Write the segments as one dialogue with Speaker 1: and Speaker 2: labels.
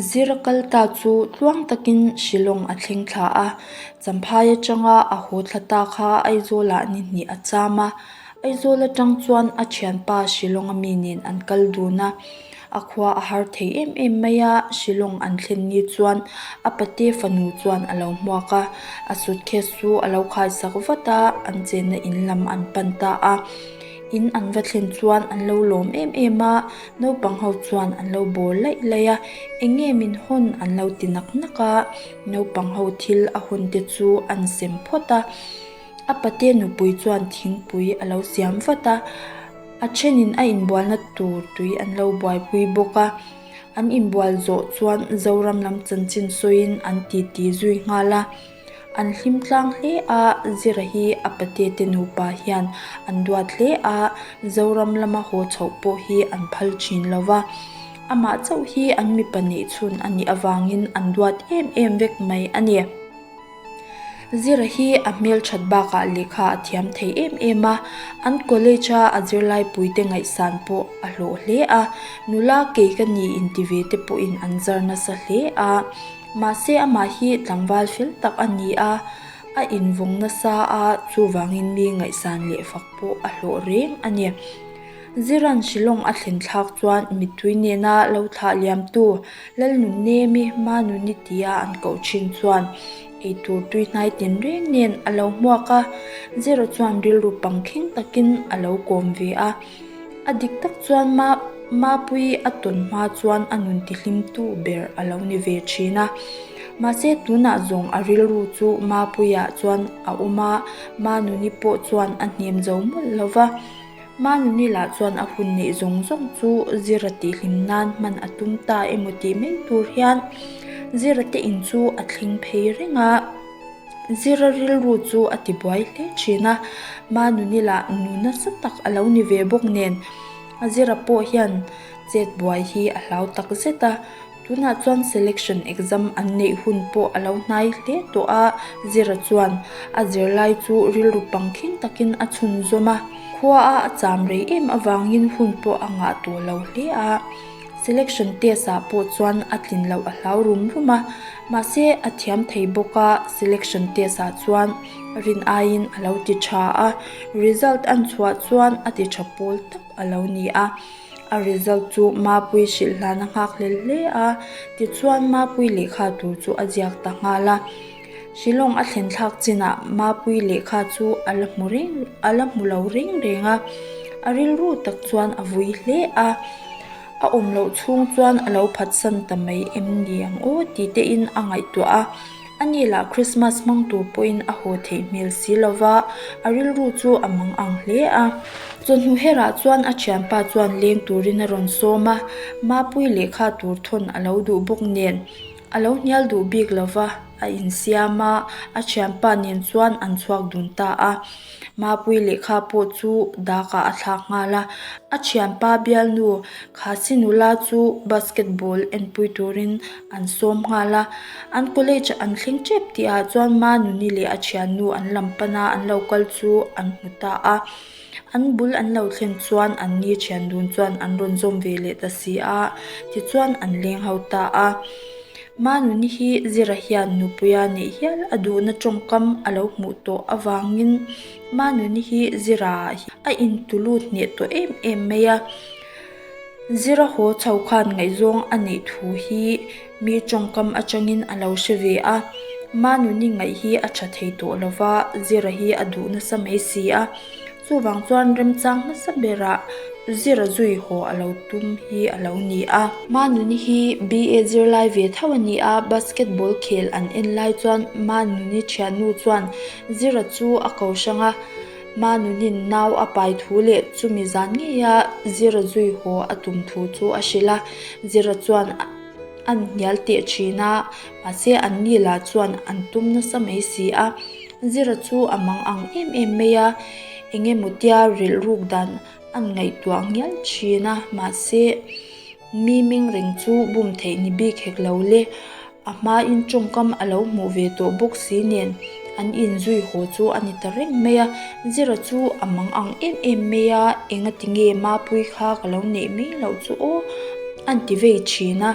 Speaker 1: Zir kal ta chu tluang takin Shillong a thleng thla a, Champhai atanga a haw thla ta kha Aizawla a ni hnih a cham a. Aizawl atang chuan a thianpa Shillong a mi nen an kal dun a, a khua a har thei em em mai a, Shillong an thlen ni chuan a pate fanu chuan a lo hmuak a, a suitcase chu a lo khai sak vat a, an chenna in lam an pan ta a, in an va thlen chuan an lo lawm em em a. Naupang ho chuan an lo bawr laih laih a, eng nge min hawn an lo ti nak nak a, naupang ho thil a hun te chu an sem phawt a, a pate nupui chuan thingpui a lo siam vat a, a thenin a inbual na tur tui an lo buaipui bawk a, an inbual zawh chuan Zoram lam chanchin sawiin an titi zui nghal a. An hlim tlang hle a, zira hi a patete nupa hian an duat hle a, Zoram lama haw chhoh pawh hi an phal thin lo va. Amah chauh hi an mi pahnih chhun a nih avangin an duat em em vek mai a ni. Zira hi a hmelthat bakah lehkha a thiam thei em em a, an college-a a zirlaipui te ngaihsan pawh a hlawh hle a, nula kei ka ni inti ve te pawhin an zar nasa hle a. Mahse amah hi tlangval hril tak a ni a, a invawng nasa a, chuvangin mi ngaihsan leh fak pawh a hlawh reng a ni. Ziran Shillong a thlenthlak chuan mittui nena lo thlah liamtu Lalnunemi Manuni tia an koh thin chuan eitur tuihnai tin reng nen a lo hmuak a, Zira chuan rilru pang thleng takin a lo kawm ve a. A dik tak chuan ma Mapui a tawn hma chuan a nun tihlimtu ber a lo ni ve thin a. Mahse tunah zawng a rilru chu Mapuiah chuan a awm a, Manuni pawh chuan a hnem zo mawlh lo va. Manuni lah chuan a hun neih zawng zawng chu Zira tihhlim nan hman a tum ta emaw tih mai tur hian Zira te in chu a thleng phei reng a. Zira rilru chu a ti buai hle thin a, Manu nila nu nasa tak a lo ni ve bawk nen, a zira pawh hian chet buai hi a hlau tak zet a. Tunah chuan selection exam an neih hun pawh a lo hnai hle tawh a, Zira chuan a zirlai chu rilru pang khing takin a chhunzawm a, khua a a cham rei em avangin hun pawh a ngah tawh lo hle a. Selection test ah pawh chuan a tlin loh a hlau rum rum a, mahse a thiam thei bawk a, selection test ah chuan rin aiin a lo ti tha a, result a chhuah chuan a ti tha pawl tak a lo ni a, a result chu Mapui hrilh hlan a nghak hle hle a, tichuan Mapui lehkha tur chu a ziak ta nghal a. Shillong a thlenthlak chinah Mapui lehkha chu a la hmu reng, a la hmu lo reng reng a. A rilru tak chuan a vui hle a. A awm loh chhung chuan a lo phatsan ta mai em ni ang aw tih te in a ngaihtuah a. A ni lah Krismas hmang tur pawhin a haw theih hmel si lo va, a rilru chu a mang ang hle a. Chawhnu herah chuan a thianpa chuan leng turin a rawn sawm a, Mapui lehkha tur thawn a lo duh bawk nen. A lo hnial duh bik lo va, a insiam a, a thianpa nen chuan an chhuak dun ta a. Mapui lehkha pawh chu dakah a thlak nghal a. A thianpa bialnu Khachi nula chu basketball enpui turin an sawm nghal a. An college an thleng tep tih ah chuan Manuni leh a thiannu an lam pana an lo kal chu an hmu ta a. An bul an lo thlen chuan an ni thian dun chuan an rawn zawm ve leh ta si a, tichuan an leng ho ta a. Manu ni hi zira hian nupuia neih hial a duhna tawngkam a lo hmuh tawh avangin Manu ni hi zira ah hian a intulut hneh tawh em em mai a. Zira haw chho khan ngaihzawng a neih thu hi. Mi tawngkam atangin a lo hre ve a, Manu ni ngaih hi a tha thei tawh lo va, Zira hi a duh nasa mai si a. Chuvang chuan remchang hmasa berah Zira zui haw a lo tum hi a lo ni a. Manu ni hi BA zir lai ve tho a ni a, Basketball khel an en lai chuan Manu ni thiannu chuan Zira chu a kohrang a, Manu nin nau a pai thu leh chumi zan ngeia Zira zui haw a tum thu chu a hrilh a. Zira chuan. an hnial teh thin a, mahse an ni lah chuan an tum nasa mai si a, zira chu a mang ang em em mai a, eng emaw tia rilruk dan an ngaihtuah ngial thin a, mahse mi mingring chu bum theih ni bik hek lo le, a hma in tawngkam a lo hmuh ve tawh bawk si nen. An inzui haw chu a ni ta reng mai a, zira chu a mang ang em em mai a, enga ti nge Mapuii kha ka lo neih mai loh chu aw an ti vei thin a.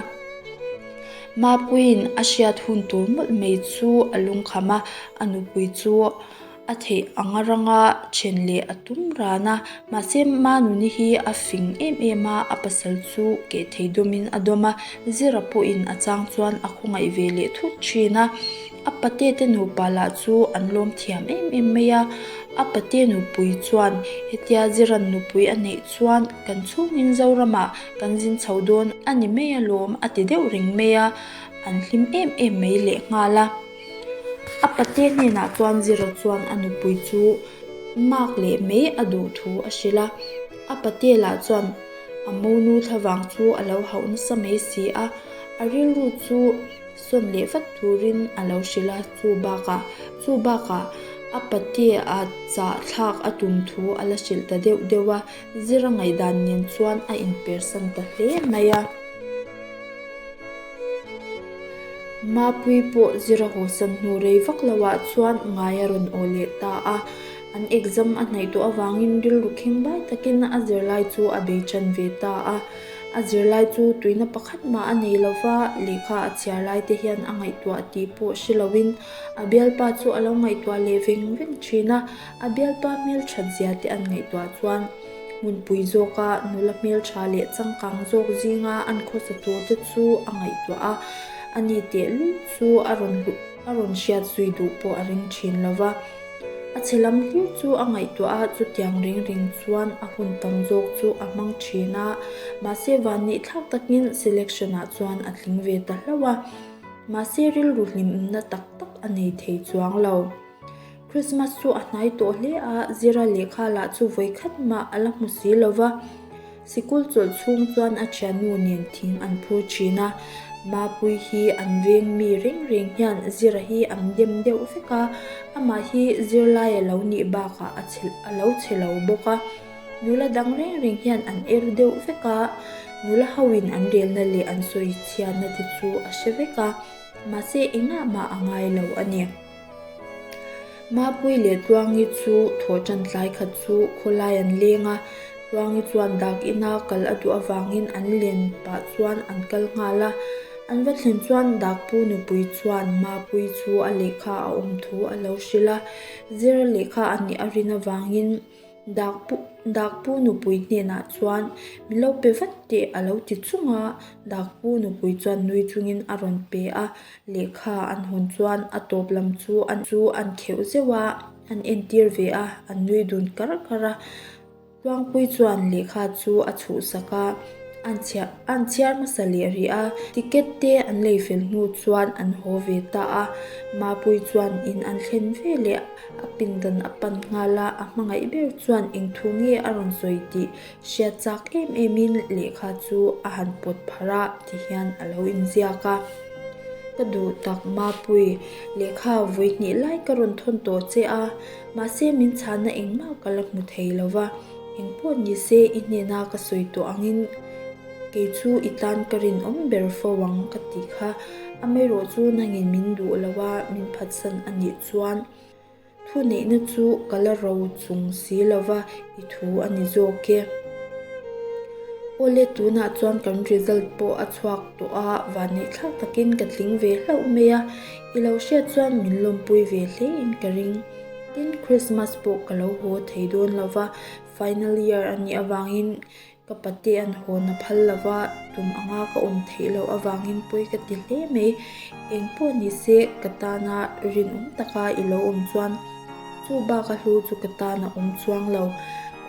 Speaker 1: Mapuiin a hriat hun tur mawlh mai chu a lung kham a, a nupui chu a theih ang a rang a, then leh a tum ran a, mahse Manu ni hi a fing em em a, a pasal chu keh thei dawmin a dawm a, zira pawhin a chang chuan a khawngaih ve leh thut thin a. A pate te nupa lah chu an lawm thiam em em mai a. A pate nupui chuan, Hetia Ziran nupui a neih chuan kan chhungin Zoramah kan zin chho dawn a ni mai alawm a ti deuh reng mai a, an hlim em em mai leh nghal a. A pate hnenah chuan Zira chuan a nupui chu mak leh mai a duh thu a hrilh a. A pate lah chuan, A monu thla vang chu a lo hauh nasa mai si a, a rilru chu, sawm leh vat turin a lo hrilh a, chu bakah, chu bakah a patea chahthlak a tum thu a la hrilh ta deuh deuh a, zir a ngaihdan nen chuan a inpersan ta hle mai a. Mapui pawh zir a hawhsan hnu rei vak lo ah chuan ngai a rawn aw leh ta a, an exam a hnaih tawh avangin rilru kheng bai takin a zirlai chu a bei tan ve ta a. A zirlai chu tuihna pakhat mah a nei lo va, lehkha a chhiar laite hian a ngaihtuah tih pawh hre loin a bialpa chu a lo ngaihtuah leh veng veng thin a. A bialpa hmelthat zia te an ngaihtuah chuan hmunpui zawka nula hmeltha leh changkang zawk zinga an khawsa tur te chu a ngaihtuah a, a ni teh lul chu a rawn hlu. A rawn hriat zui duh pawh a ring thin lo va, a che lam hlir chu a ngaihtuah a, chutiang ring ring chuan a hun tam zawk chu a hmang thin a, mahse van nih thlak takin selection ah chuan a tling ve ta hlauh a, mahse rilru hlimna tak tak a nei thei chuang lo. Christmas chu a hnai tawh hle a, zira lehkha lah chu vawi khat mah a la hmu si lo va. Sikul chawlh chhung chuan a thiannu nen thing an phur thin a. Mapui hi an veng mi reng reng hian zira hi an dem deuh vek a, amah hi zirlai a lo nih bakah a chhe a lo chhe lo bawk a. Nula dang reng reng hian an er deuh vek a, nula hoin an relna leh an sawi chhiatna te chu a hre vek a, mahse engah mah a ngai lo a ni. Mahpui leh Tluangi chu thawh tan tlai khat chu khawlai an leng a, Tluangi chuan dak ina kal a duh avangin an len pah chuan an kal nghal a. An va thlen chuan dak pu nupui chuan Mahpui chu a lehkha a awm thu a lo hrilh a, zir a lehkha a nih a rin avangin, Dak pu dak pu nupui hnenah chuan min lo pe vat teh a lo ti chung a, dak pu nupui chuan nui chungin a rawn pe a, lehkha an hawn chuan a tawp lam chu an chu an kheuh zeuh a, an entir ve a, an nui dun kar kar a. Tluangpui chuan lehkha chu a chhuhsak a, an chhiar an chhiar hmasa leh rih a, ticket te an lei fel hnu chuan an haw ve ta a, Mapui chuan in an thlen veleh. A pindan a pan nghal a, a hmangaih ber chuan eng thu nge a rawn sawi tih hriat chak em emin lehkha chu a han pawt pharh a ti hian a lo inziak a. Ka duh tak Mapuii, lehkha vui hnih lai ka rawn thawn tawh che a, mahse min chhahna engmah ka la hmu thei lo va, engpawh nise i hnena ka sawi tawh angin, Kei chu i tan ka rinawm ber fo ang ka tih kha. Amaherawh chu nangin min duh lo a, min phatsan a nih chuan thu neihna chu ka la ro chung si lo va, i thu a ni zawk e. O le tunah chuan kan result pawh a chhuak tawh a, van neih thlak takin ka tling ve hlauh mai a, i lo hriat chuan min lawmpui ve hlein ka ring. Tin Christmas pawh ka lo haw thei dawn lo va, final year a nih avangin Ka pate an hawn a phal lo va, tum anga ka awm theih loh avangin pawi ka ti hle mai. Eng pawh ni se ka tana rinawm taka i lo awm chuan chu baka hlu chu ka tana awm chuang lo.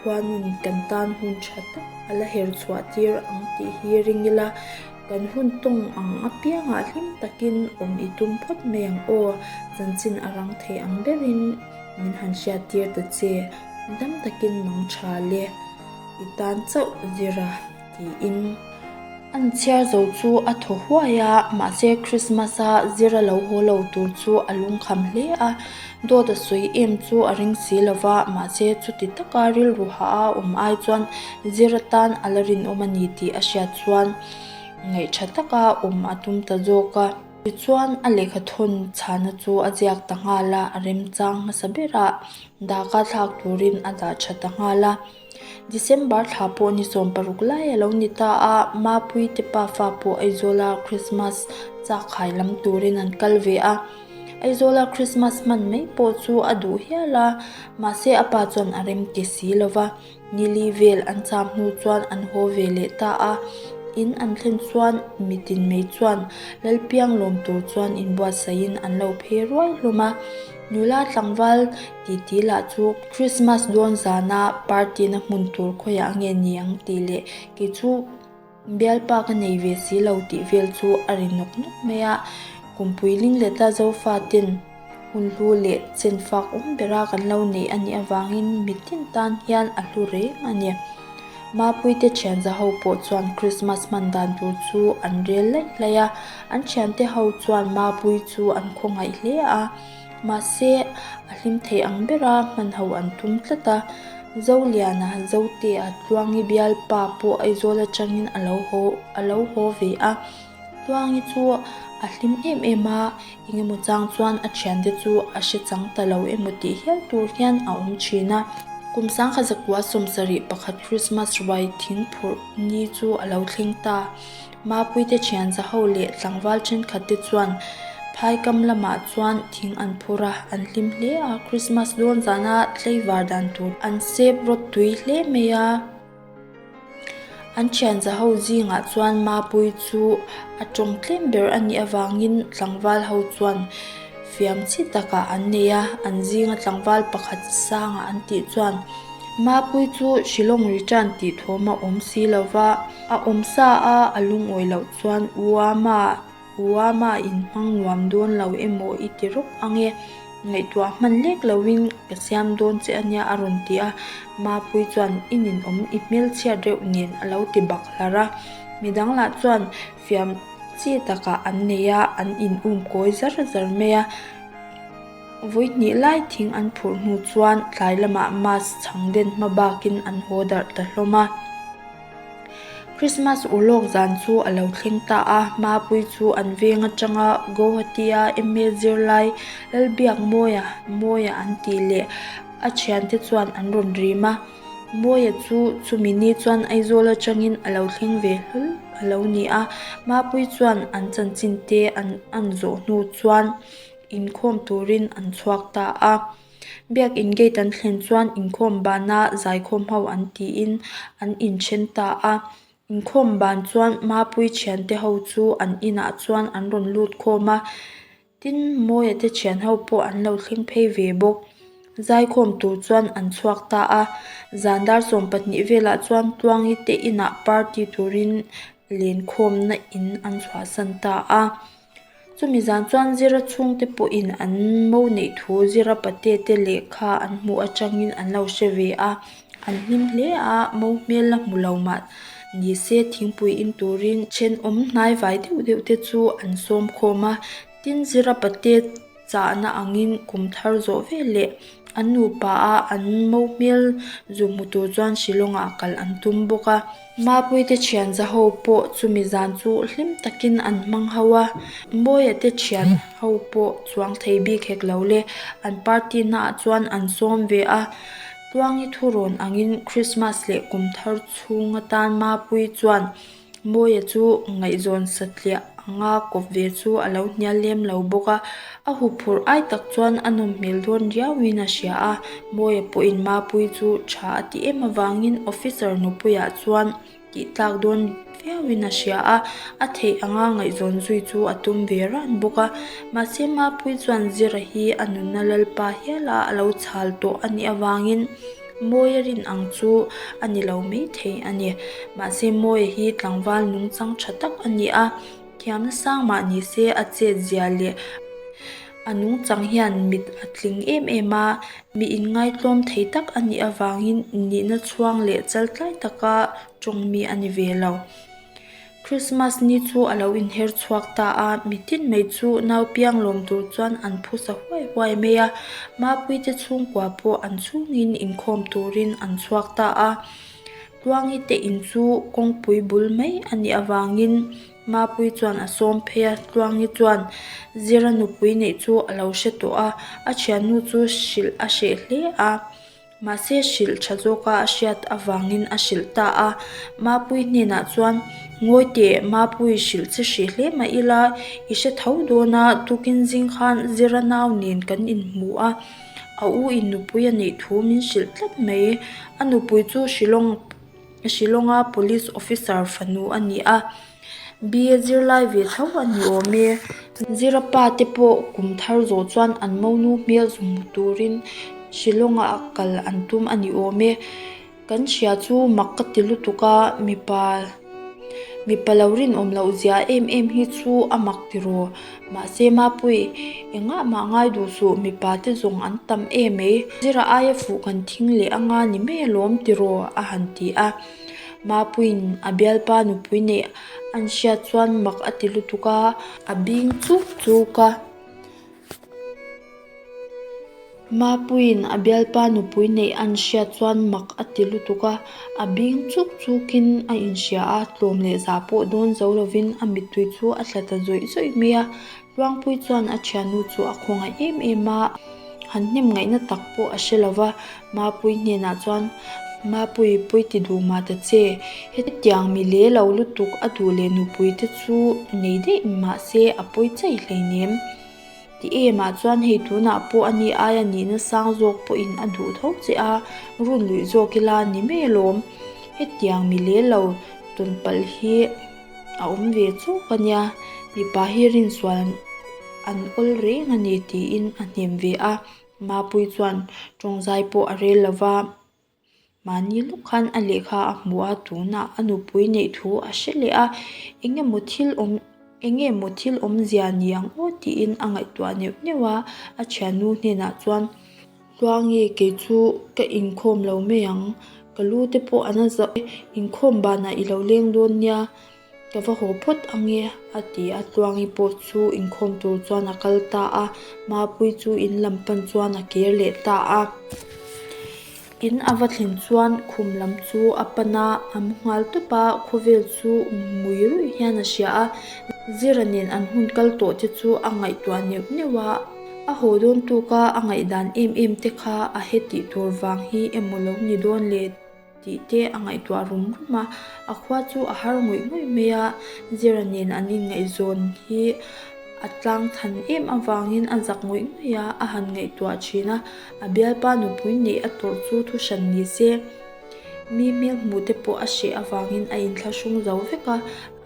Speaker 1: Khuanun kan tan hun tha tak a la her chhuah tir ang tih hi ring ila, kan hun tawng ang apiangah hlim takin awm i tum phawt mai ang aw, chanchin a rang thei ang berin min han hriat tir ta che. Dang takin mang tha le. i tan chauh zira tiin an chhiar zo chu a thaw huai a, mahse Christmas a zir a lo haw lo tur chu a lung kham hle a, dawt a sawi em chu a ring si lo va, mahse chuti taka rilru ha a awm ai chuan zir atan a la rinawm a ni tih a hriat chuan ngaih tha taka awm a tum ta zawk a. Tichuan, a lehkha thawn chhana chu a ziak ta nghal a, a remchang hmasa bera daka thlak turin a dah tha ta nghal a. December thla pawh ni sawm paruk lai a lo ni ta a, Mapui te pa fa pawh Aizawla Krismas chak khai lam turin an kal ve a. Aizawla Krismas hman mai pawh chu a duh hial a, mahse a pa chuan a rem ke si lo va. Nili vel an cham hnu chuan an haw ve leh ta a, in an thlen chuan mi tinmei chuan Lalpiang lawm tur chuan inbuatsahin an lo phei ruai hlawm a. Nula tlangval titi lah chu Krismas dawn zana party-na hmun tur khawiah nge niang tih leh kei chu Bialpa ka nei ve si lo tih vel chu a ri nawk nawk mai a. Kum puiling leh tla zofa ten hun hlu leh chen fak awm bera kan lo neih a nih avangin mi tin tan hian a hlu reng a ni. Mapuite thianza ho pawh chuan Krismas hman dan tur chu an rel laih laih a. An thiante ho chuan mapui chu an khawngaih hle a. Mahse, a hlim thei ang bera hmanho an tum tlat a. Zoliana Zotea Tluangi bialpa pawh Aizawl atangin a lo haw, a lo haw ve a. Tluangi chu a hlim em em a, engemaw chang chuan a thiante chu a hre chang ta lo emaw tih hial tur hian a awm thin a. Kum sangha zakua sawmsarih pakhat Krismas ruai thing phurh ni chu a lo thleng ta. Mapuite thianza ho leh tlangval thenkhat te chuan phai kam lamah chuan thing an phur a, an hlim hle a, Krismas dawn zana tleivar dan tur an sep rawt tui hle mai a. An thianza ho zingah chuan Mapui chu a tawng tlem ber a nih avangin tlangval ho chuan fiam chi takah an nei a, an zinga tlangval pakhat sanga an tih chuan Mapui chu Shillong ri tan tih thawm a awm si lova, A awm sa a, a lungawi loh chuan u ama, u ama in hmang nuam dawn lo emaw i ti rawk ang e, ngaihtuah hman lek lo in ka siam dawn che a nia a rawn ti a, Mapui chuan i nin awm i hmelchhiat reuh nen a lo ti bakhlar a, mi dang lah chuan fiam chi takah an nei a, an in um kawi zar zar mai a, vawihnih lai thing an phurh hnu chuan tlai lamah mask chhang den hma bak in an haw darh ta hlawm a. Christmas ur lawk zan chu a lo thleng ta a, Mapui chu an veng atanga Guwahati-a email zir lai lal biak Mawia, Mawia an tih leh a thian te chuan an rawn rim a. Mawia chu chumi ni chuan Aizawl atangin a lo thleng ve hlul a lo ni a. Mapui chuan an chanchin te an an zawh hnu chuan inkhawm turin an chhuak ta a. Biakin gate an thlen chuan inkhawm bana zaikhawm ho an tiin an inthen ta a. Inkhawm ban chuan mapui thiante ho chu an inah chuan an rawn lut khawm a. Tin mawia te thian ho pawh an lo thleng phei ve bawk. Zaikhawm tur chuan an chhuak ta a. Zan dar sawm pahnih velah chuan Tluangi te inah party turin len khawmna in an chhuahsan ta a. Chumi zan chuan zira chhungte pawhin an mo neih thu zira pate te leh kha an hmuh atangin an lo hre ve a, an hlim hle a mo hmel la hmu lo mah ni se thingpui in turin ṭhenawm hnai vai deuh deuh te chu an sawm khawm a tin zira pate-- chahna angin kum thar zawh vel leh an nu paha an mo hmel zuk hmu tur chuan Shillong ah kal an tum bawk a. Mapuite thianza ho pawh chumi zan chu hlim takin an hmang ho a, Mawia te thian ho pawh chuang thei bik hek lo le, an party hnaah chuan an sawm ve a. Tluangi thu rawn angin Krismas leh kum thar chhung atan Mapui chuan Mawia chu ngaihzawn satliah anga kawp ve chu a lo hnial lem lo bawk a, a hu phurh ai tak chuan a nawm hmel dawn riauin a hria a. Mawia pawhin Mapui chu tha a ti em avangin officer nupuiah chuan tihtlak dawn viauin a hria a, a theih anga ngaihzawn zui chu a tum ve ran bawk a. Mahse Mapui chuan zira hi a nunna Lalpa hiala a lo chhal tawh a nih avangin. Mawia rin ang chu a ni lo mai thei a ni. Mahse Mawia hi tlangval nung chang tha tak a ni a, thiamna sang mah ni se a chetziah leh a nung chang hian mit a tling em em a, mi inngaitawm thei tak a nih avangin innihna chhuang leh chaltlai taka tawng mi a ni ve lo. Krismas ni chu a lo inher chhuak ta a, mi tin mai chu nau piang lawm tur chuan an phusa huai huai mai a, mapui te chhungkua pawh an chungin inkhawm turin an chhuak ta a. Tuangi te in chu kawngpui bul mai a nih avangin mapui chuan a sawm phei a, Tuangi chuan zira nupui neih chu a lo hre tawh a, a thiannu chu hrilh a hreh hle a. Mahse hrilh tha zawka a hriat avangin a hrilh ta a. Mapui hnenah chuan, Ngawi teh, Mapui hrilh che hrih hle mah ila i hre tho dawn a, tukin zing khan Ziranau nen kan inhmu a, a u in nupui a neih thu min hrilh tlat mai. A nupui chu hrilhawng. Shilawnga police officer fanu a ni a B a zirlai ve tho a ni awm e zira pa te pawh kum thar zawh chuan an monu hmel sawm hmu turin Shilawngah kal an tum a ni awm e kan hria chu mak ka ti lutuk a mipa mipa lo rinawm loh zia em em hi chu a mak tiraw. Mahse Mapui, engah mah ngai duh suh, mipa te zawng an tam em mai, zirah aia fuh kan thing leh a nga ni mai alawm tiraw? a han ti a. Mapui'n a bialpa nupui neih a nihriat chuan mak a ti lutuk a, a bing chuk chuk a. Mapuiin a bialpa nupui neih an hriat chuan mak a ti lutuk a, a bing chuk chukin a inhria a, tlawm leh za pawh dawn zo lovin a mittui chu a tla ta zawih zawih mai a. Luangpui chuan a thiannu chu a khaw ngaih em em a, han hnem ngaihna tak pawh a hre lova, Mapui hnenah chuan, Mapui, pui ti duh mah ta che, hetiang mi leh lo lutuk a duh leh nupuite chu nei daih mahse a pui chai hleinem. Ti em ah chuan hei tunah pawh a ni aia nihna sang zawk pawhin a duh tho che a, run luih zawk ila ni mei lawm. Hetiang mi leh lo tawn palh hi a awm ve chuk a nia, mipa hi rinsual an awl reng a ni tiin a hnem ve a, Mapui chuan tawngzai pawh a rel lo va. Mahni lawk khan a lehkha a hmu a tuna a nupui neih thu a hre leh a, eng emaw thil awm eng nge maw thil awmzia ni ang aw tiin a ngaihtuah neuh neuh a, a thiannu hnenah chuan tlua nge kei chu ka inkhawm lo mai ang ka lu te pawh an la zah e, inkhawm banah i lo leng dawn nia Ka va haw phawt ang e, a ti a. Tluangi pawh chu inkhawm tur chuan a kal ta a. Mapui chu in lam pan chuan a ker leh ta a. In a va thlin chuan khum lam chu a pan a, a mu nghal tawp a, khawvel chu ngui ruih hian a hria a. Zira nen an hun kal tawh te chu a ngaihtuah neuh neuh a. A haw dawn tu kha a ngaihdan em em te kha a he tih tur vang hi emaw lo ni dawn le. tih te a ngaihtuah rum rum a, a khua chu a har ngawih ngawih mai a, zira nen an inngaihzawn hi a tlang chhan em avangin a zak ngawih ngawih a, a han ngaihtuah thin a, a bialpa nupui neih a tawrh chu thuhran ni se, mi hmel hmuh te pawh a hreh avangin a inthlahrung zo vek a,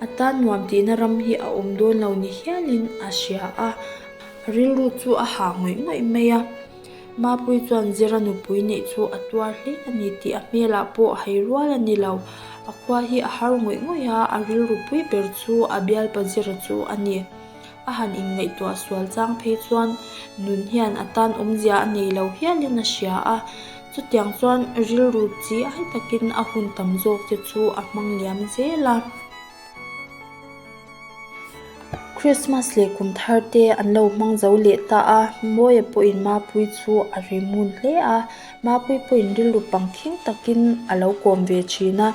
Speaker 1: a tan nuam tihna ram hi a awm dawn lo ni hialin a hria a, a rilru chu a ha ngawih ngawih mai a. Mapui chuan Zira nupui neih chu a tuar hle a ni tih a hmelah pawh hei rual a ni lo. A khua hi a har ngawih ngawih a, a rilru pui ber chu a bialpa Zira chu a ni. A han inngaihtuah sual chang phei chuan nun hian a tan awmzia a nei lo hialin a hria a. Chutiang chuan rilru chi ai takin a hun tam zawk te chu a hmang liam zel a. Krismas leh kum thar te an lo hmang zo leh ta a, Mawia pawhin Mapui chu a ri ngun hle a. Mapui pawhin rilru pang thing takin a lo kawm ve thin a.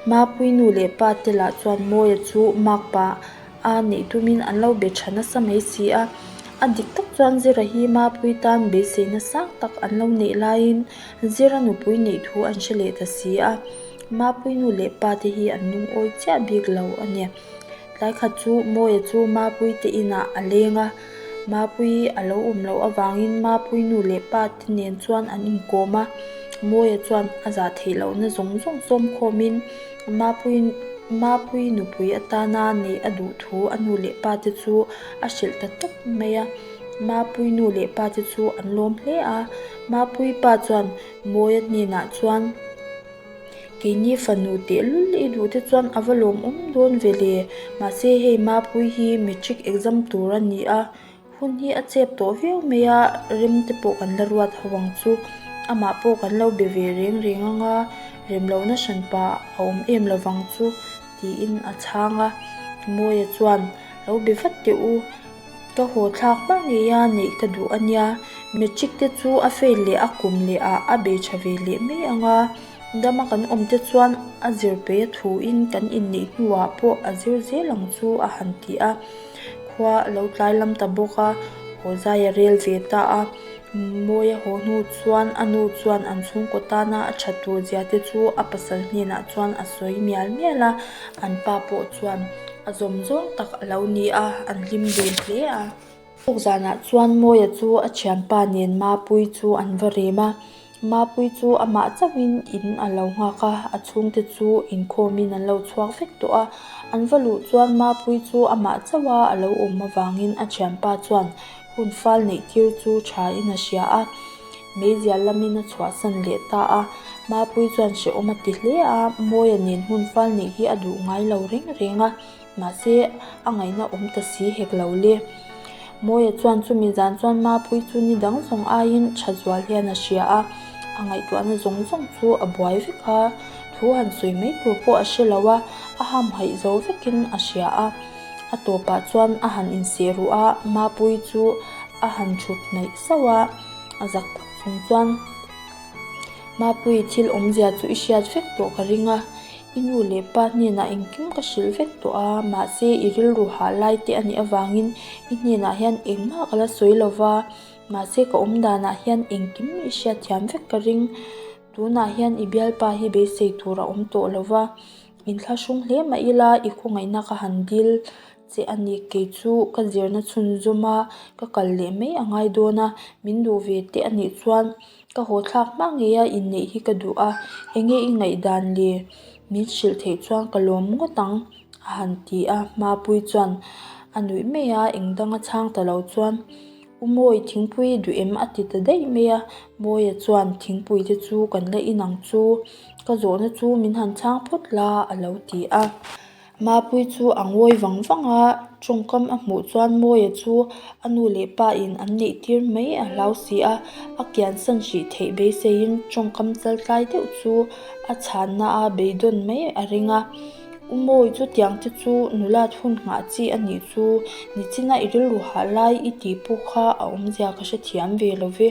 Speaker 1: Mapui nu leh pa te lah chuan Mawia chu Mak pa a nih tumin an lo be tha nasa mai si a. A dik tak chuan Zira hi Mapui tan beiseina sang tak an lo neih laiin Zira nupui neih thu an hre leh ta si a. Mapui nu leh pa te hi an lungawi chiah bik lo a ni. Tlai khat chu Mawia chu Mapui te inah a leng a, Mapui a lo awm loh avangin Mapui nu leh pa te nen chuan an inkawm a, Mawia chuan a za theih loh na zawng zawng sawm khawmin Mapui, Mapui nupui atana neih a duh thu a nu leh pa te chu a hrilh ta tawp mai a. Mapui nu leh pa te chu an lawm hle a, Mapui pa chuan. Mawia hnenah chuan, Keini fanu tehlul i duh te chuan a va lawmawm dawn ve le. Mahse hei Mapui hi matric exam tur a ni a, hun hi a chep tawh viau mai a, rem te pawh kan la ruat ho ang chu. Amah pawh kan lo be ve reng reng anga rem lo nahran pa a awm em lo vang chu, tiin a chhang a. Mawia chuan, Lo be vat teh u. Ka haw thlak hmang nge a neih ka duh ania, matric te chu a fail leh a kum leh ah a be tha ve leh mai ang a, dama kan awm te chuan a zir peih a thu in kan in neih hnu ah pawh a zir zel ang chu a han ti a, khua a lo tlai lam ta bawk a, haw zai a rel ve ta a. Mawiya haw hnu chuan a nu chuan an chhungkaw tana a ṭha tur zia te chu a pasal hnenah chuan a sawi mial mial a, an pa pawh chuan a zawm zawng tak a lo ni a, an hlim dun hle a. Thawk zanah chuan Mawiya chu a thianpa nen Mapui chu an va rem a, Mapui chu amah chauhin in a lo nghak a, a chhungte chu inkhawmin an lo chhuak vek tawh a. An va luh chuan Mapui chu amah chauha a lo awm avangin a thianpa chuan hun fal neih tir chu thain a hria a, meizial lamin a chhuahsan leh ta a. Mapui chuan hrehawm a ti hle a, Mawia nen hun fal neih hi a duh ngai lo reng reng a. Mahse, a ngaihna awm ta si hek lo le. Mawia chuan chumi zan chuan Mapui chu ni dang zawng aiin tha zual hian a hria a, a ngaihtuahna zawng zawng chu a buai vek a, thu han sawi mai tur pawh a hre lo a, a hamhaih zo vekin a hria a. A tawpah chuan a han insehruh a, Mapui chu a han thut hnaih sauh a, a zak tak chung chuan, Mapui, thil awmzia chu i hriat vek tawh ka ring a, I nu leh pa hnenah engkim ka hrilh vek tawh a, mahse i rilru hah lai te a nih avangin i hnenah hian engmah ka la sawi lo va, mahse ka awm danah hian engkim i hriat thiam vek ka ring. Tunah hian i bialpa hi beisei tur a awm tawh lo va, in thlahrung hle mah ila i khawngaihna ka han dil. Che a ni, kei chu ka zirna chhun zawm a, ka kal leh mai a ngai dawn a, min duh ve teh a nih chuan ka haw thlak hma ngei a, inneih hi ka duh a, enge i ngaihdan le min hrilh theih chuan ka lawm ngawt ang, a han ti a, Mapui chuan a nuih mai a, engdang a chhang ta lo chuan U Mawi thingpui duh em? a ti ta daih mai a, Mawia chuan thingpui te chu kan la inang chu, ka zawhna chu min han chhang phawt la a lo ti a. Mapui chu a ngawi vang vang a, tawngkam a hmuh chuan Mawia chu a nu leh pa in an neihtir mai a hlau si a, a kian san hrih theih beisei in tawngkam chal tlai deuh chu a chhan na a beidawn mai a ring a. U Mawi chutiang te chu nulat hun nghah chi a nih chu, nichina i rilru hah lai i tih pawh kha a awmzia ka hrethiam ve lo ve.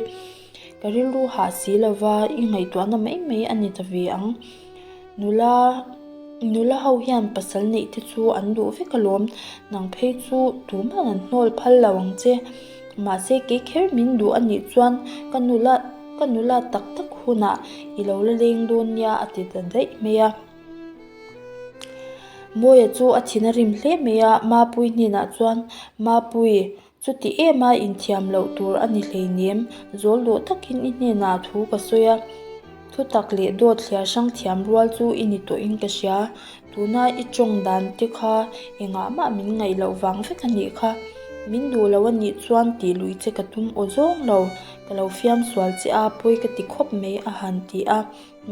Speaker 1: Ka rilru hah si lo va, i ngaihtuahna mai mai a ni ta ve ang. Nula, nula ho hian pasal neih te chu an duh vek alawm. Nang phei chu tumah an hnawl phal lo ang che. Mahse kei kher min duh a nih chuan ka nula, ka nula tak tak hunah i lo la leng dawn nia a ti ta daih mai a. Mawia chu a thin a rim hle mai a, Mapui hnenah chuan, Mapui, Chuti ema inthiam loh tur a ni hleinem, zawldaw takin i hnenah thu ka sawi a, thutak leh dawtthliar hrang thiam rual chu i ni tawhin ka hria. Tuna i tawng dan te kha engah mah min ngaih loh vang vek a nih kha. Min duh lo a nih chuan tih lui che ka tum aw zawng lo, ka lo fiamsual che a pawi ka ti khawp mai a han ti a.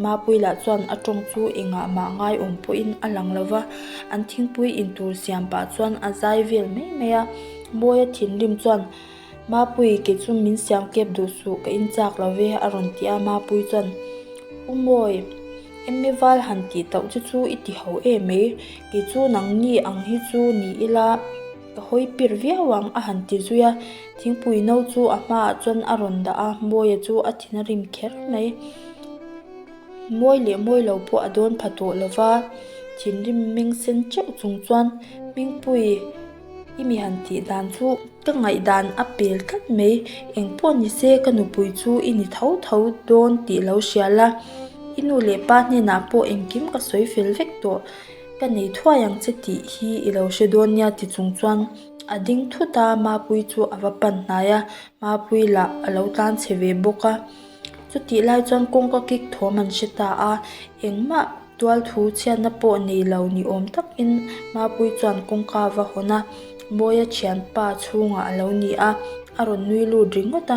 Speaker 1: Mapui lah chuan a tawng chu engah mah ngaiawm pawhin a lang lo va, an thingpui in tur siam pah chuan a zai vel mai mai a. Bawia thinrim chuan, Mapui ke chu min siamkep duh suh ka inchak lo ve a rawn ti a, Mapui chuan, U mawi, emme val han tih tauh che chu i ti hauh em mai, kei chu nangni ang hi chu ni ila, Ka hawi pir viau ang a han ti zui a, thingpui no chu a hma ah chuan a rawn dah a, Mawia chu a thin a rim kher mai. Mawi leh mawi lo pawh a dawn pha tawh lo va, thinrim meng sen chauh chung chuan Hmingpui i mi han tih dan chu ka ngaihdan a pel tlat mai, engpawh ni se ka nupui chu i ni tho tho dawn tih lo hria la, i nu leh pa hnenah pawh engkim ka sawi fel vek tawh. Ka nei thuai ang che tih hi i lo hre dawn nia ti chung chuan a ding thut a, Mapui chu a va pan hnai a, Mapui lah a lo tlan chhe ve bawk a. Chutih lai chuan kawng ka kik thawm an hre ta a, engmah tualthu chhiatna pawh nei lo ni awm takin Mapui chuan kawngka a va hawn a, Mawia thianpa chhungah a lo ni a, a rawn nui lut ringawt a.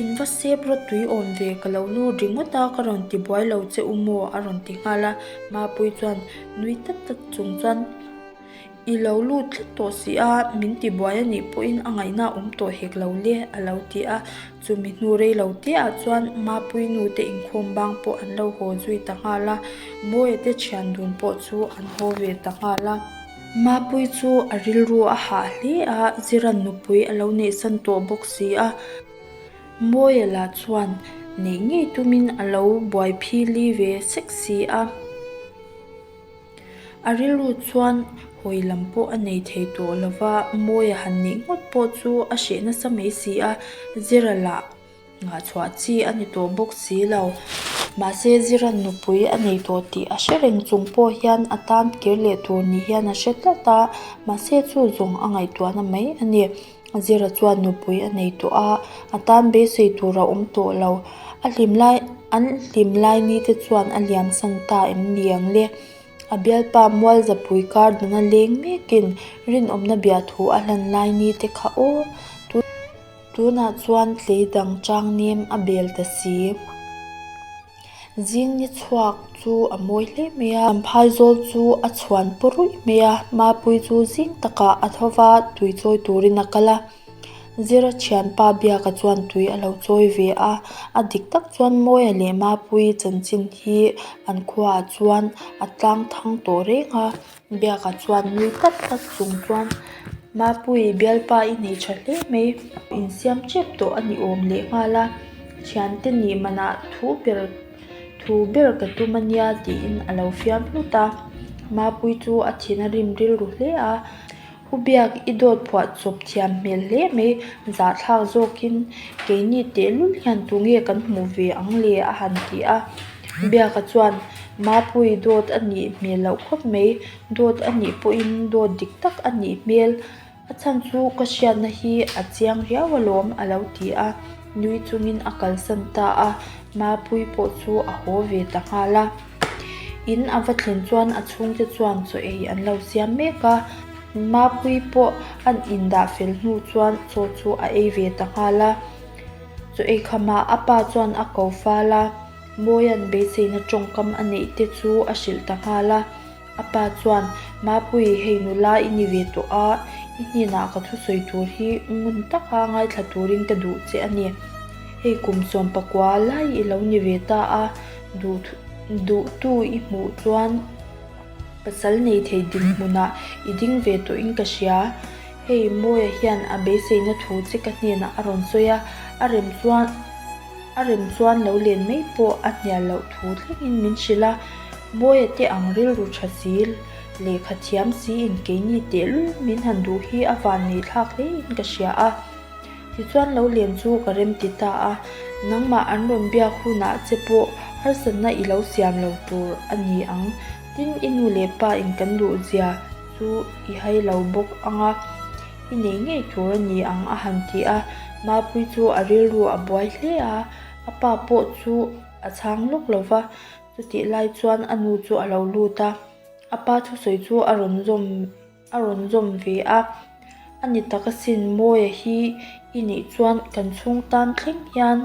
Speaker 1: In va sep rawt tui awm ve ka lo nu ringawt a, ka rawn ti buai lo che u maw a rawn ti nghal a, Mapui chuan nui tak tak chung chuan I lo lut tlat tawh si a, min ti buai a nih pawhin a ngaihna a awm tawh hek lo le a lo ti a, chumi hnu rei lo te ah chuan Mapui nu te inkhawm bang pawh an lo haw zui ta nghal a, Mawi te thian dun pawh chu an haw ve ta nghal a. Mapui chu a rilru a hah hle a, Ziran nupui a lo neih san tawh bawk si a. Mawia lah chuan neih ngei tumin a lo buai phili ve sek si a. A rilru chuan hawi lam pawh a nei thei tawh lo va, Mawia han neih nghawt pawh chu a hreh nasa mai si a, Zira lah. Nghahchhuah chi a ni tawh bawk si lo. Mahse Ziran nupui a nei tawh tih a hre reng chung pawh hian a tan kir leh tur nih hian a hre tlat a, mahse chu zawng a ngaihtuahna mai a ni. Zira chuan nupui a nei tawh a, a tan beisei tur a awm tawh lo. A hlim lai, an hlim lai ni te chuan a liam san ta em ni ang le? A bialpa Mualzapui kar dana leng mekin rinawmna biahthu a hlan lai ni te kha aw tut. Tunah chuan tleidang changnem a bel ta si. Zing ni chhuak chu a mawi hle mai a. An phaizawl chu a chhuan pu ruih mai a. Mapui chu zing takah a tho va, tui chawi turin a kal a. Zira thianpa biakah chuan tui a lo chawi ve a. A dik tak chuan Mawia leh Mapui chanchin hi an khuaah chuan a tlang thang tawh reng a. Biakah chuan nui tak tak chung chuan Mapui bialpa i nei tha hle mai in siam tep tawh a ni awm leh nghal a, Thiante nih manah thu ber thu ber ka tum a nia tiin a lo fiam hlut a, Mapui chu a thin a rim rilru hle a. Pu Biak i dawt phuah chawp thiam hmel hle mai, zah thlak zawkin, Keini tehlul hian tunge kan hmuh ve ang le? a han ti a. Biaka chuan, Mapui dawt a nih hmel loh khawp mai, dawt a nih pawhin dawt dik tak a nih hmel, a chhan chu ka hriatna hi a chiang riau alawm, a lo ti a, nui chungin a kalsan ta a, Mapui pawh chu a haw ve ta nghal a. In a va thlin chuan a chhung te chuan chaw ei an lo siam mek a. Mapui pawh a in dah fel hnu chuan chaw chu a ei ve ta nghal a. Chaw ei khamah a pa chuan a ko fal a, Mawian beiseina tawngkam a neih te chu a hrilh ta nghal a. A pa chuan, Mapui, hei nula i ni ve tawh a, i hnenah ka thu sawi tur hi ngun taka ngaithla turin ka duh che a ni. Hei kum sawm pakua lai i lo ni ve ta a, duh duhtu i hmuh chuan pasal nei thei dik hmunah i ding ve tawhin ka hria. Hei Mawia hian a beiseina thu che ka hnenah a rawn sawi a, a rem chuan. A rem chuan lo len mai pawh a hnial loh thu thlengin min hrilh a, Bawia te ang rilru tha si, lehkha thiam si in keini tehlul min han duh hi a van nei thlak hle in ka hria a. Tichuan lo len chu ka rem ti ta a, nangmah an rawn biak hunah che pawh harsatna i lo siam lo tur a ni ang, tin i nu leh pa in kan duh zia chu i hai lo bawk ang a. I nei ngei tur a ni ang a han ti a, Mapui chu a rilru a buai hle a, a pa pawh chu a chhang lawk lo va, chutih lai chuan a nu chu a lo lut a, a pa thusawi chu a rawn zawm a rawn zawm ve a, a ni tak asin Mawia hi i nih chuan kan chhung tan thleng hian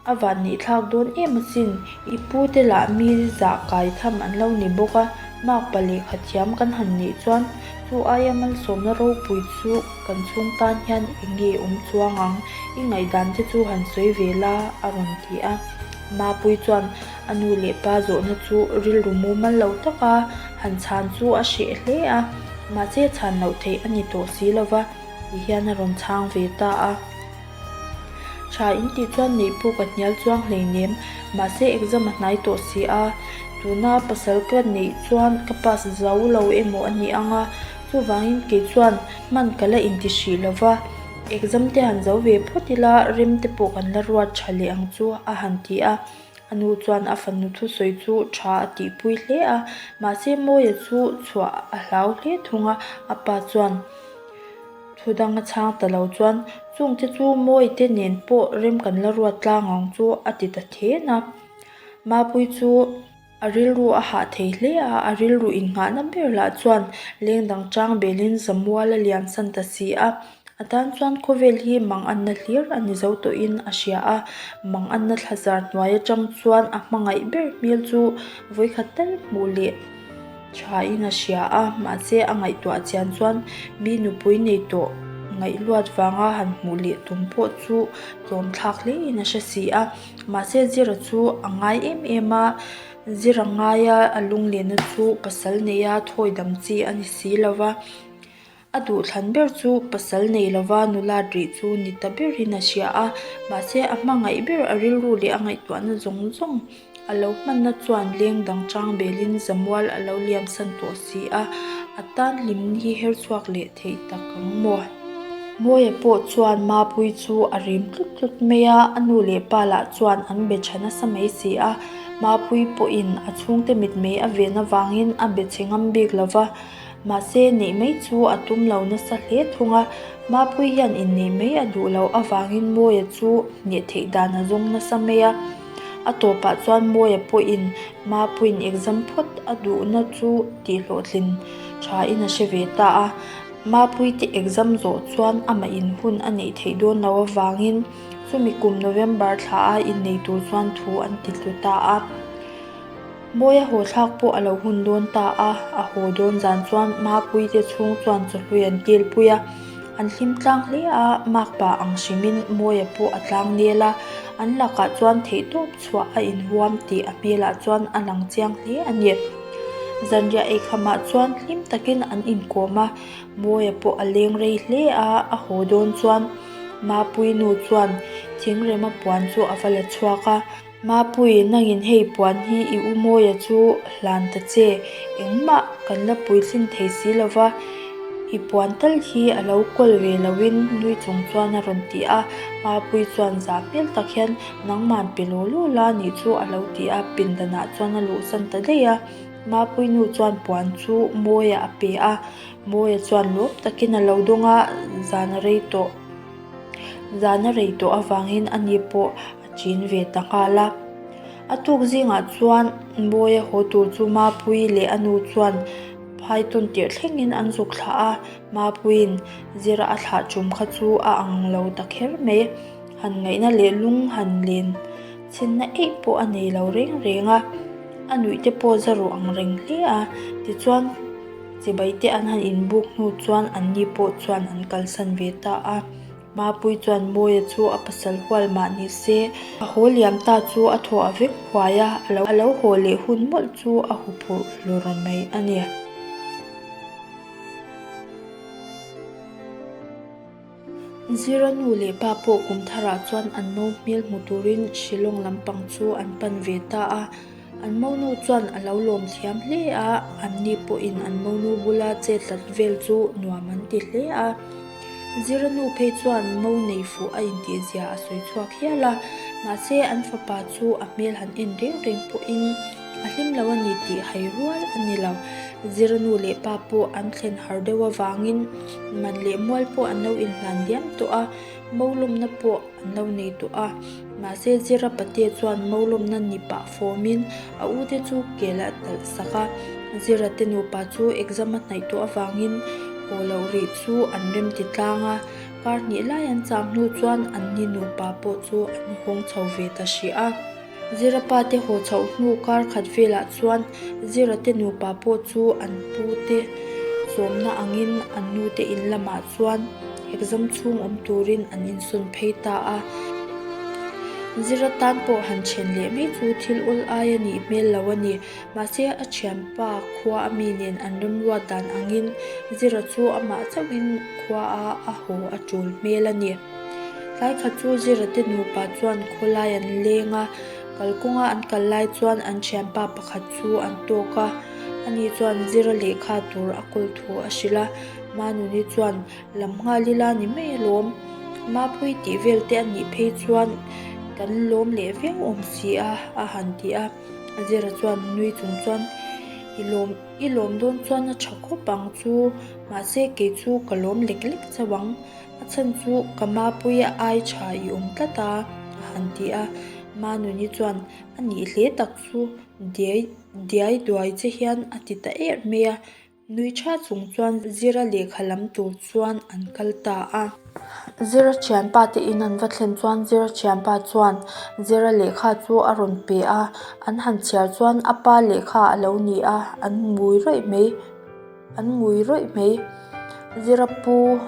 Speaker 1: A vat nih thlak dawn em asin. I pu te lah mi zah kai tham an lo ni bawk a, mak pa lehkha thiam kan han nih chuan chu aia malsawmna ropui chu kan chhung tan hian eng nge awm chuang ang, i ngaihdan te chu han sawi ve la a rawn ti a. Mapui chuan a nu leh pa zawhna chu rilru mumal lo taka han chhan chu a hreh hle a, mahse chhan loh theih a ni tawh si lova ti hian a rawn chhang ve ta a. Tha in tih chuan neihphu ka hnial chuang hlei nem, mahse exam a hnai tawh si a, tuna pasal ka neih chuan ka pass zo lo emaw a ni ang a, chuvangin kei chuan hman ka la inti hrih lo va, exam te han zo ve phawt ila rem te pawh kan la ruat tha leh ang chu a han ti a, a nu chuan a fanu thusawi chu tha a tihpui hle a, mahse Mawia chu chhuah a hlau hle thung a, a pa chuan. Thu dang a chhang ta lo chuan chung te chu mawi te nen pawh rem kan la ruat tlang ang chu a ti ta thin a. Mapui chu a rilru a hah thei hle a, a rilru innghahna ber lah chuan leng dang chang belin zamual a lian san ta si a. A tan chuan khawvel hi manganna hlir a ni zo tawhin a hria a, manganna thlazar hnuai atang chuan a hmangaih ber hmel chu vawikhat tal hmuh leh. Thain a hria a, mahse a ngaihtuah chian chuan mi nupui nei tawh ngaihluat vanga han hmuh leh tum pawh chu tlawmthlak hlein a hre si a. Mahse Zira chu a ngai em em a, Zira ngaia a lunglena chu pasal neia thawidam chi a ni si lova. A duh thlan ber chu pasal nei lova nula rih chu ni ta berin a hria a, mahse a hmangaih ber a rilru leh a ngaihtuahna zawng zawng a lo hmanna chuan leng dang chang belin zamual a lo liamsan tawh si a, a tan hlim hi her chhuak leh theih tak ang maw? Mawiah pawh chuan Mapui chu a rim tlut tlut mai a, a nu leh pa lah chuan an be tha nasa mai si a, Mapui pawhin a chhungte mit mei a ven avangin a be che ngam bik lova. Mahse, neih mai chu a tum lo nasa hle thung a. Mapuii hian inneih mai a duh loh avangin Mawia chu neh theih dan a zawng nasa mai a. A tawpah chuan Mawia pawhin Mapuiin exam phawt a duhna chu tihhlawhtlin thain a hre ve ta a. Mapui te exam zawh chuan amah in hun a neih theih dawn lo avangin chumi kum November thlaha inneih tur chuan thu an ti tlu ta a. Mawia haw thlak pawh a lo hun dawn ta a, a haw dawn zan chuan Mapui te chhung chuan chawhlui an kilpui a, an hlim tlang hle a, Mak pa ang hrimin Mawia pawh a tlang nel a, an lakah chuan theihtawp chhuah a inhuam tih a hmelah chuan a lang chiang hle a ni. Zanriah eikhamah chuan hlim takin an inkawm a, Mawia pawh a leng rei hle a, a haw dawn chuan Mapui nu chuan thingrema puan chu a va la chhuak a, Mapui, nangin hei puan hi i u mawia chu hlan ta che. Engmah kan la puithlin thei si lo va, i puan tal hi a lo kawl ve loin nui chung chuan a rawn ti a. Mapui chuan za hmel tak hian, Nangman pe law law la nih chu a lo ti a, pindanah chuan a luhsan ta daih a. Mapui nu chuan puan chu mawiah a pe a, mawia chuan lawm takin a lo dawng a, zan a rei tawh zan a rei tawh avangin ani pawh a chin ve ta nghal a. A tuk zingah chuan Bawiia haw tur chu Mapui leh a nu chuan phai tawn tirh thlengin an zuk thlah a. Mapuiin zira a thlah ṭum kha chu a ang lo ta kher mai. Han ngaihna leh lung han len chhinna eih pawh a nei lo reng reng a. A nuih te pawh zaru ang reng hle a. Tichuan chibai te an han inbuk hnu chuan anni pawh chuan an kalsan ve ta a. Mapui chuan Mawia chu a pasal hual mah nih se, a haw liam ta chu a thaw a vek huai a, a lo haw leh hun mawlh chu a hu phurh hlur mai a ni. Zira nu leh pa pawh kum tharah chuan an no hmel hmu turin Shillong lampang chu an pan ve ta a. An monu chuan a lo lawm thiam hle a, anni pawhin an monu bula che tlat vel chu nuam an ti hle a. Ziranu phei chuan mo nei fuh a intihzia a sawi chhuak hial a, mahse an fapa chu a hmel han en reng reng pawhin a hlim lo a ni tih hai rual a ni lo. Ziranu leh pa pawh an thlen har deuh avangin man leh mual pawh an lo inhlan diam tawh a. Mo lawmna pawh an lo nei tawh a, mahse Zira patea chuan mo lawmna ni pah fawmin a u te chu kel a talh sak a. Zira te nupa chu exam a hnaih tawh avangin haw loh rih chu an rem ti tlang a, kar hnih lai an chang hnu chuan an ni nupa pawh chu an hawng chho ve ta hria. Zira pa te haw chhoh hnu kar khat velah chuan Zira te nupa pawh chu an pu te zawmna angin an nu te in lamah chuan exam chhung awm turin an insawn phei ta a. Zira tan pawh han thian leh mai chu thil awl ai a nih hmel lo a ni. Mahse a thianpa khua a mi nen an remruat dan angin Zira chu amah chauhin khuaa a haw a tul hmel a ni. Tlâikhat chu Zirate nupa chuan khawlai an lêng a, kal kawnga an kal lai chuan an ṭhianpa pakhat chu an tâwk a. Ani chuan Zira lehkha tur a kawl thu a hrilh a, Manuni chuan lam nghal ila ni mai alawm. Mapui tih velte a nih phei chuan kan lâwm leh viau awm si a, a han ti a. Zira chuan nui chung chuan, I lâwm, i lâwm dâwn chuan a ṭha khawp ang chu, mahse kei chu ka lâwm lek lek chauh ang. A chhan chu ka mapui a ai tha i awm tlat a, a han ti a. Manuni chuan a nih hle tak chu diai diai duai che hian a ti ta er mai a. Nui tha chung chuan Zira lehkha lam tur chuan an kal ta a. Zira thianpa te in an va thlen chuan Zira thianpa chuan Zira lehkha chu a rawn pe a. An han chhiar chuan a pa lehkha a lo ni a, an mui raih mai. An ngui rawih mai. Zira pu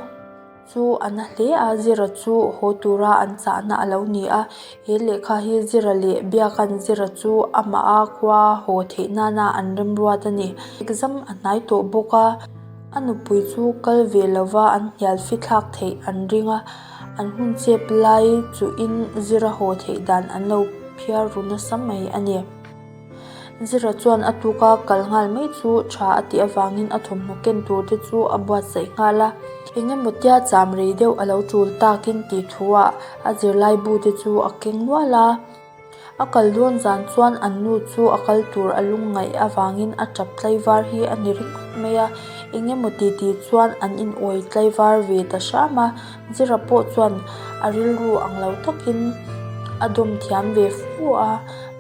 Speaker 1: chu a na hle a, Zira chu haw tura an chahna a lo ni a. He lehkha hi Zira leh biakan Zira chu amaha khua haw theih nana an remruat a ni. Exam a hnai tawh bawk a, a nupui chu kal ve lova an hnial fithlak theih an ring a. An hun chep lai chuhin Zira haw theih dan an lo phiar ru nasa mai a ni. Zira chuan a tuk a kal nghal mai chu tha a tih avangin a thawmhnaw ken tur te chu a buatsaih nghal a. Eng emaw tia cham rei deuh a lo tul takin tih thu ah a zirlai bu te chu a keng nual a. A kal dawn zan chuan an nu chu a kal tur a lung ngaih avangin a tap tlaivar hi a ni ri ngawt mai a. Eng emaw titi chuan an inawih tlaivar ve ta hram a. Zira pawh chuan a rilru ang lo takin a dawm thiam ve fu a,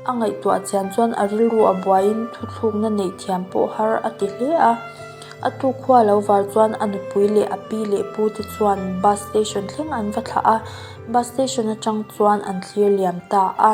Speaker 1: a ngaihtuah chian chuan a rilru a buaiin thuthlukna neih thiam pawh har a ti hle a. A tu khua lo var chuan a nupui leh a pi leh pu te chuan bus station thleng an va thlah a, bus station atang chuan an thlir liam ta a.